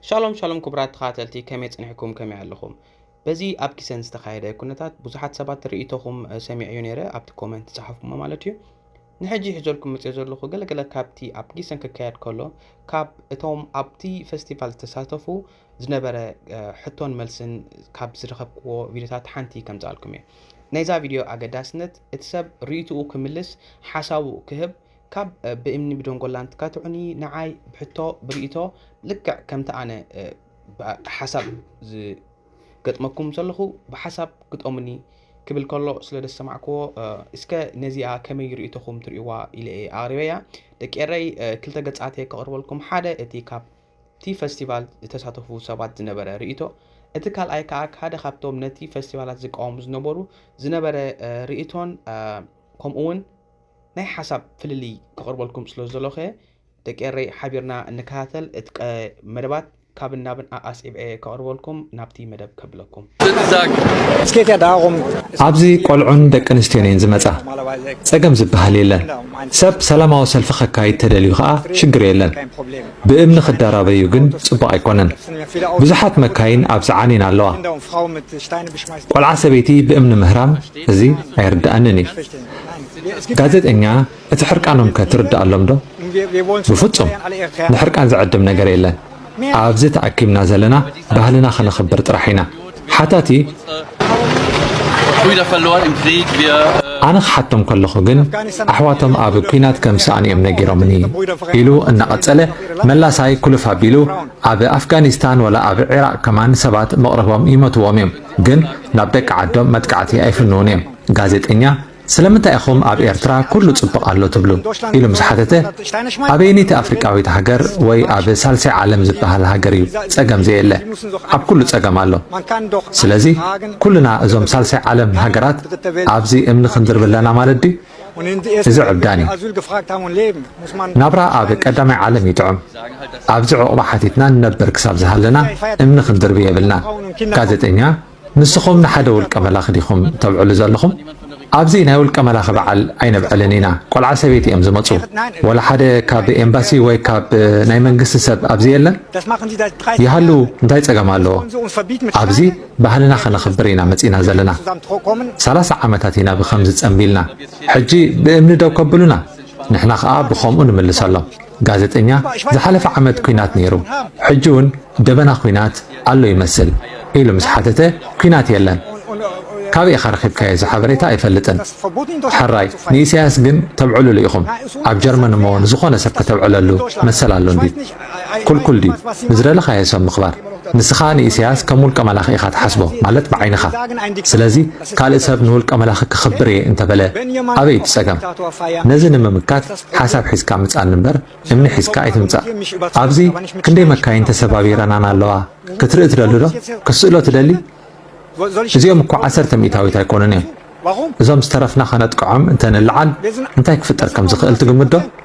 ሻሎም ሻሎም ክቡራት ተኸታተልቲ ከመይ ጽኒሕኩም ከመይ ኣለኹም በዚ ኣብ ኪሰን ዝተኻየደ ኩነታት ብዙሓት ሰባት ርእይቶኹም ሰሚዐዮ ነይረ ኣብቲ ኮመንት ዝጸሓፍኩሞ ማለት እዩ ንሕጂ ሒዘልኩም መጽዮ ዘለኹ ገለገለ ካብቲ ኣብ ጊሰን ክካየድ ከሎ ካብ እቶም ኣብቲ ፈስቲቫል ዝተሳተፉ ዝነበረ ሕቶን መልስን ካብ ዝረኸብክዎ ቪድዮታት ሓንቲ ከምጽኣልኩም እየ ናይዛ ቪድዮ ኣገዳስነት እቲ ሰብ ርእይትኡ ክምልስ ሓሳቡ ክህብ ካብ ብእምኒ ብደንጎላን ትካትዑኒ ንዓይ ብሕቶ ብርእይቶ ልክዕ ከምቲ ኣነ ሓሳብ ዝገጥመኩም ዘለኹ ብሓሳብ ግጠሙኒ ክብል ከሎ ስለ ደሰማዕክዎ እስከ ነዚኣ ከመይ ርእይቶኹም ትርእይዋ ኢለ እየ ኣቕሪበያ ደቂ ኤረይ ክልተ ገጻት እየ ከቕርበልኩም ሓደ እቲ ካብ እቲ ፈስቲቫል ዝተሳተፉ ሰባት ዝነበረ ርእይቶ እቲ ካልኣይ ከኣ ሓደ ካብቶም ነቲ ፈስቲቫላት ዝቃወሙ ዝነበሩ ዝነበረ ርእይቶን ከምኡውን ናይ ሓሳብ ፍልልይ ከቕርበልኩም ስለ ዘለኹ'የ። ደቂ ኤረይ ሓቢርና እንከታተል እቲ ቀ መደባት ካብን ናብን ኣኣስዒበ'የ ከቕርበልኩም ናብቲ መደብ ከብለኩም። ኣብዚ ቆልዑን ደቂ ኣንስትዮን እየን ዝመጻ ጸገም ዝበሃል የለን ሰብ ሰላማዊ ሰልፊ ከካይድ ተደልዩ ከኣ ሽግር የለን ብእምኒ ክደራበዩ ግን ጽቡቅ ኣይኮነን ብዙሓት መካይን ኣብዚ ዓንየን ኣለዋ ቆልዓ ሰበይቲ ብእምኒ ምህራም እዚ ኣይርደኣንን እዩ ጋዜጠኛ እቲ ሕርቃኖም ከ ትርደኣሎም ዶ? ብፍጹም ንሕርቃን ዝዕድም ነገር የለን ኣብዚ ተኣኪብና ዘለና ባህልና ከነኽብር ጥራሕ ኢና ሓታቲ ኣነ ክሓቶም ከለኹ ግን ኣሕዋቶም ኣብ ኲናት ከም ዝሰኣኑ እዮም ነጊሮምኒ ኢሉ እናቐጸለ መላሳይ ኩልፍ ኣቢሉ ኣብ ኣፍጋኒስታን ወላ ኣብ ዒራቕ ከማን ሰባት መቕርቦም ይመትዎም እዮም ግን ናብ ደቂ ዓዶም መጥቃዕቲ ኣይፍንዉን እዮም ጋዜጠኛ፣ ስለምንታይ ኢኹም ኣብ ኤርትራ ኩሉ ጽቡቕ ኣሎ ትብሉ? ኢሉ ምስ ሓተተ፣ ኣበየነይቲ ኣፍሪቃዊት ሃገር ወይ ኣብ ሳልሳይ ዓለም ዝበሃል ሃገር እዩ ጸገም ዘየለ? ኣብ ኩሉ ጸገም ኣሎ። ስለዚ ኩልና እዞም ሳልሳይ ዓለም ሃገራት ኣብዚ እምኒ ክንድርቢ ኣለና ማለት ድዩ? እዚ ዕብዳን እዩ። ናብራ ኣብ ቀዳማይ ዓለም እዩ ጥዑም። ኣብዚ ዕቝባ ሓቲትና ንነብር ክሳብ ዝሃለና እምኒ ክንድርቢ የብልናን። ጋዜጠኛ፣ ንስኹም ንሓደ ውልቀ መላኺ ዲኹም ተብዕሉ ዘለኹም? ኣብዚ ናይ ውልቀ መላኺ በዓል ኣይነብዕልን ኢና። ቆልዓ ሰበይቲ እዮም ዝመጹ። ወላ ሓደ ካብ ኤምባሲ ወይ ካብ ናይ መንግስቲ ሰብ ኣብዚ የለን? ይሃሉ እንታይ ጸገም ኣለዎ? ኣብዚ ባህልና ከነኽብር ኢና መጺእና ዘለና። ሰላሳ ዓመታት ኢና ብኸምዚ ጸምቢልና። ሕጂ ብእምኒ ደው ከብሉና ንሕና ከኣ ብኸምኡ ንምልሰሎም። ጋዘጠኛ ዝሓለፈ ዓመት ኩናት ነይሩ ሕጂ ውን ደበና ኩናት ኣሎ ይመስል ኢሉ ምስ ሓተተ ኩናት የለን ካበይ ኢኻ ረኺብካዮ እዚ ሓበሬታ ኣይፈልጥን ሕራይ ንኢሳያስ ግን ተብዕሉሉ ኢኹም ኣብ ጀርመን እሞ ንዝኾነ ሰብ ከተብዕለሉ መሰል ኣሎ እንድዩ ኩልኩል ድዩ ንዝደለኻዮ ሰብ ምኽባር ንስኻ ንኢሳያስ ከም ውልቀ መላኺ ኢኻ ትሓስቦ ማለት ብዓይንኻ ስለዚ ካልእ ሰብ ንውልቀ መላኺ ከኽብር እየ እንተበለ ኣበይ እቲ ጸገም? ነዚ ንምምካት ሓሳብ ሒዝካ ምጻን እምበር እምኒ ሒዝካ ኣይትምጻእ። ኣብዚ ክንደይ መካይን ተሰባቢረናን ኣለዋ ክትርኢ ትደሊ ዶ? ክትስእሎ ትደሊ? እዚኦም እኮ ዓሰርተ ሚእታዊት ኣይኮኑን እዮም። እዞም ዝተረፍና ከነጥቅዖም እንተ ንለዓል እንታይ ክፍጠር ከም ዝኽእል ትግምት ዶ?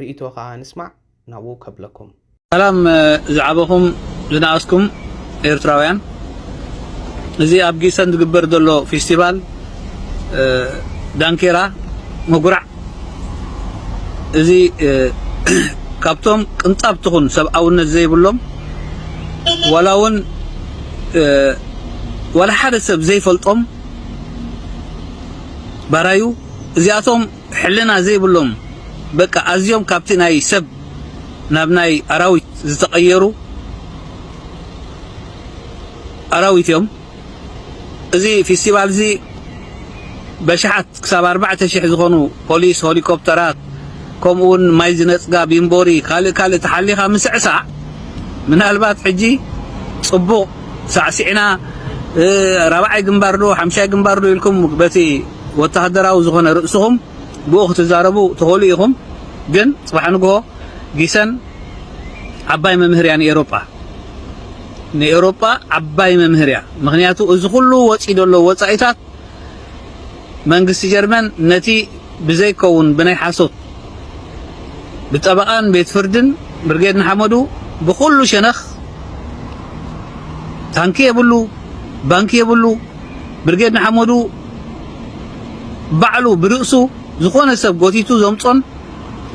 ሪኢቶ ከኣ ንስማዕ ናብኡ ከብለኩም። ሰላም ዝዓበኹም ዝነኣስኩም ኤርትራውያን እዚ ኣብ ጊሰን ዝግበር ዘሎ ፊስቲቫል ዳንኬራ መጉራዕ እዚ ካብቶም ቅንጣብ ትኹን ሰብኣውነት ዘይብሎም ዋላ ውን ዋላ ሓደ ሰብ ዘይፈልጦም ባራዩ እዚኣቶም ሕልና ዘይብሎም በቃ ኣዝዮም ካብቲ ናይ ሰብ ናብ ናይ ኣራዊት ዝተቀየሩ ኣራዊት እዮም። እዚ ፊስቲቫል እዚ በሽሓት ክሳብ ኣርባዕተ ሽሕ ዝኾኑ ፖሊስ፣ ሆሊኮፕተራት ከምኡውን ማይ ዝነጽጋ ቢምቦሪ ካልእ ካልእ ተሓሊኻ ምስዕሳዕ ምናልባት ሕጂ ጽቡቕ ሳዕሲዕና ራብዓይ ግንባር ዶ ሓምሻይ ግንባር ዶ ኢልኩም በቲ ወተሃደራዊ ዝኾነ ርእስኹም ብኡ ክትዛረቡ ትኽእሉ ኢኹም ግን ጽባሕ ንግሆ ጊሰን ዓባይ መምህር እያ ንኤሮጳ ንኤሮጳ ዓባይ መምህር እያ ምክንያቱ እዚ ኩሉ ወጺ ዘሎ ወጻኢታት መንግስቲ ጀርመን ነቲ ብዘይከውን ብናይ ሓሶት ብጠበቓን ቤት ፍርድን ብርጌድ ንሓመዱ ብኹሉ ሸነኽ ታንኪ የብሉ ባንኪ የብሉ ብርጌድ ንሓመዱ ባዕሉ ብርእሱ ዝኾነ ሰብ ጎቲቱ ዘምጾን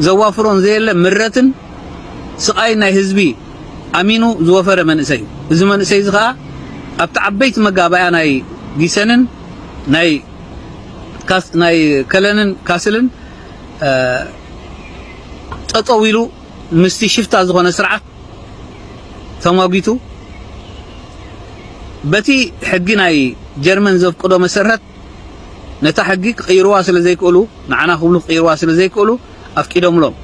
ዘዋፍሮን ዘየለ ምረትን ስቓይን ናይ ህዝቢ ኣሚኑ ዝወፈረ መንእሰይ እዩ። እዚ መንእሰይ እዚ ኸኣ ኣብቲ ዓበይቲ መጋባእያ ናይ ጊሰንን ናይ ናይ ከለንን ካስልን ጠጠው ኢሉ ምስቲ ሽፍታ ዝኾነ ስርዓት ተሟጊቱ በቲ ሕጊ ናይ ጀርመን ዘፍቅዶ መሰረት ነታ ሕጊ ክቕይርዋ ስለ ዘይክእሉ ንዓና ክብሉ ክቕይርዋ ስለ ዘይክእሉ ኣፍቂዶምሎም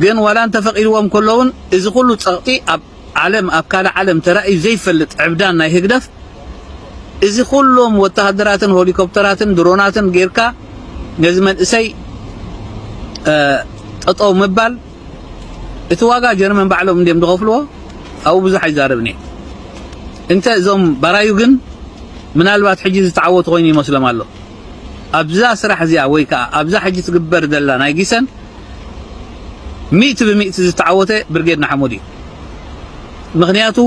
ግን ዋላ እንተፈቒድዎም ከለውን እዚ ኩሉ ጸቕጢ ኣብ ዓለም ኣብ ካልእ ዓለም ተራእዩ ዘይፈልጥ ዕብዳን ናይ ህግደፍ እዚ ኩሎም ወተሃደራትን ሆሊኮፕተራትን ድሮናትን ጌርካ ነዚ መንእሰይ ጠጠው ምባል እቲ ዋጋ ጀርመን ባዕሎም እንዲም ዝኸፍልዎ ኣብኡ ብዙሕ ኣይዛረብን እየ እንተ እዞም ባራዩ ግን ምናልባት ሕጂ ዝተዓወቱ ኮይኑ ይመስሎም ኣሎ ኣብዛ ስራሕ እዚኣ ወይ ከኣ ኣብዛ ሕጂ ትግበር ዘላ ናይ ጊሰን ሚእቲ ብሚእቲ ዝተዓወተ ብርጌድ ንሓመዱ እዩ። ምኽንያቱ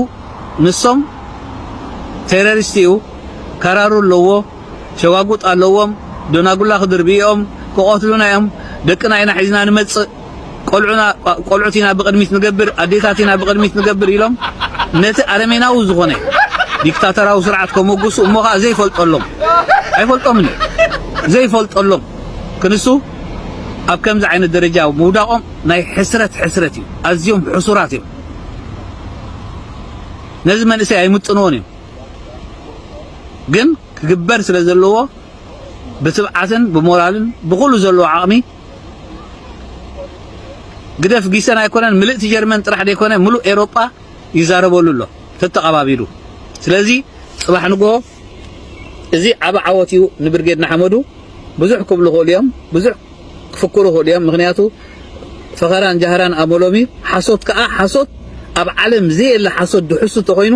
ንሶም ቴረሪስት እዩ፣ ከራሩ ኣለዎ፣ ሸዋጉጥ ኣለዎም፣ ዶናጉላ ክድርብዩ'ዮም፣ ክቐትሉና እዮም፣ ደቅና ኢና ሒዝና ንመጽእ፣ ቆልዑና ቆልዑት ኢና ብቅድሚት ንገብር ኣዴታት ኢና ብቅድሚት ንገብር ኢሎም ነቲ ኣረሜናዊ ዝኾነ ዲክታተራዊ ስርዓት ከሞግሱ እሞ ከኣ ዘይፈልጠሎም ኣይፈልጦምን እዩ ዘይፈልጠሎም ክንሱ ኣብ ከምዚ ዓይነት ደረጃ ምውዳቖም ናይ ሕስረት ሕስረት እዩ ኣዝዮም ሕሱራት እዮም ነዚ መንእሰይ ኣይምጥንዎን እዮም ግን ክግበር ስለ ዘለዎ ብትብዓትን ብሞራልን ብኹሉ ዘለዎ ዓቕሚ ግደፍ ጊሰን ኣይኮነን ምልእቲ ጀርመን ጥራሕ ዘይኮነ ምሉእ ኤሮጳ ይዛረበሉ ኣሎ ተተቐባቢሉ። ስለዚ ጽባሕ ንግሆ እዚ ዓቢ ዓወት እዩ ንብርጌድ ንሓመዱ። ብዙሕ ክብሉ ክእሉ እዮም፣ ብዙሕ ክፍክሩ ክእሉ እዮም። ምክንያቱ ፈኸራን ጃህራን ኣመሎም እዩ። ሓሶት ከኣ ሓሶት ኣብ ዓለም ዘየለ ሓሶት ድሕሱ ተኾይኑ